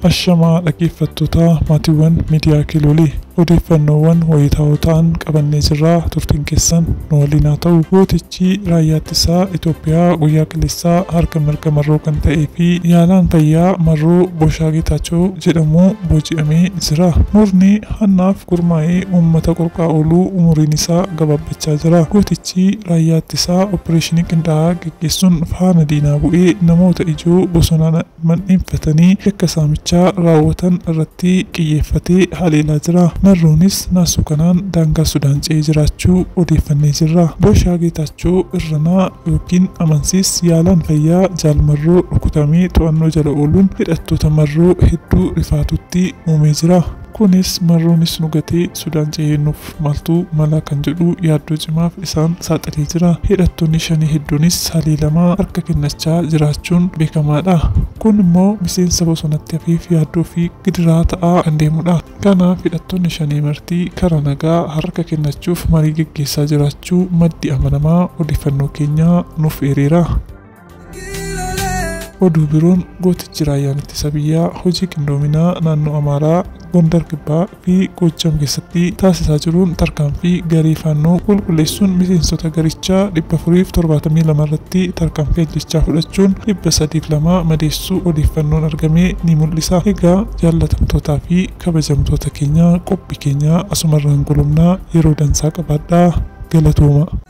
Ashamaa dhaggeeffattootaa maatiiwwan miidiyaa Kiloolee odeeffannoowwan wayitaawoo ta'an qabannee jirraa turtiin keessan nu waliin haa ta'u. Gootichi raayyaa ittisaa Itoophiyaa guyyaa kaleessaa harka mirga marroo kan ta'ee fi yaalaan fayyaa marroo Boshaa Geetaachoo jedhamu booji'amee jira. Murni hannaaf gurmaa'ee uummata qorqaa ooluu umuriin isaa gabaabbachaa jira. Gootichi Achi raayyaa ittisaa oppireeshinii qindaa'aa gaggeessuun faana diinaa bu'ee namoota ijoo bosonaan mandheeffatanii yakka saamichaa raawwatan irratti qiyyeeffatee haleelaa jira. Marroonis naasuu kanaan daangaa Sudaan ce'ee jiraachuu odeeffannee jirra. Booshaa Geetaachoo Irranaa ykn Amansiis yaalaan fayyaa Jaal Marroo rukutamee to'annoo jala ooluun hidhattoota Marroo hedduu rifaatuutti uumee jira. Kunis marroonis nu gatee Sudaan cehee nuuf maaltu malaa kan jedhu yaaddoo cimaaf isaan saaxilee jira. Hidhattoonni Shanee hedduunis haleelamaa harka kennachaa jiraachuun beekamaadha. Kun immoo miseensa bosonatti hafeef yaaddoo fi gidiraa ta'aa kan deemudha. Kanaaf hidhattoonni Shanee marti karaa nagaa harka kennachuuf marii geggeessaa jiraachuu maddi amanamaa odeeffannoo keenyaa nuuf eereera. Oduu biroon gootichi raayyaan ittisa biyyaa hojii qindoominaa naannoo Amaaraa, Gondar Kibbaa fi Goojjam keessatti taasisaa jiruun tarkaanfii garee Faannoo qulqulleessuun miseensota garichaa 472 irratti tarkaanfii ajjeechaa fudhachuun 302 madeessuu odeeffannoon argame ni mul'isa. Egaa jaallatamtootaa fi kabajamtoota keenya qophii keenya asumarraan golobna yeroo dansaa qabaadhaa. Galatoomaa!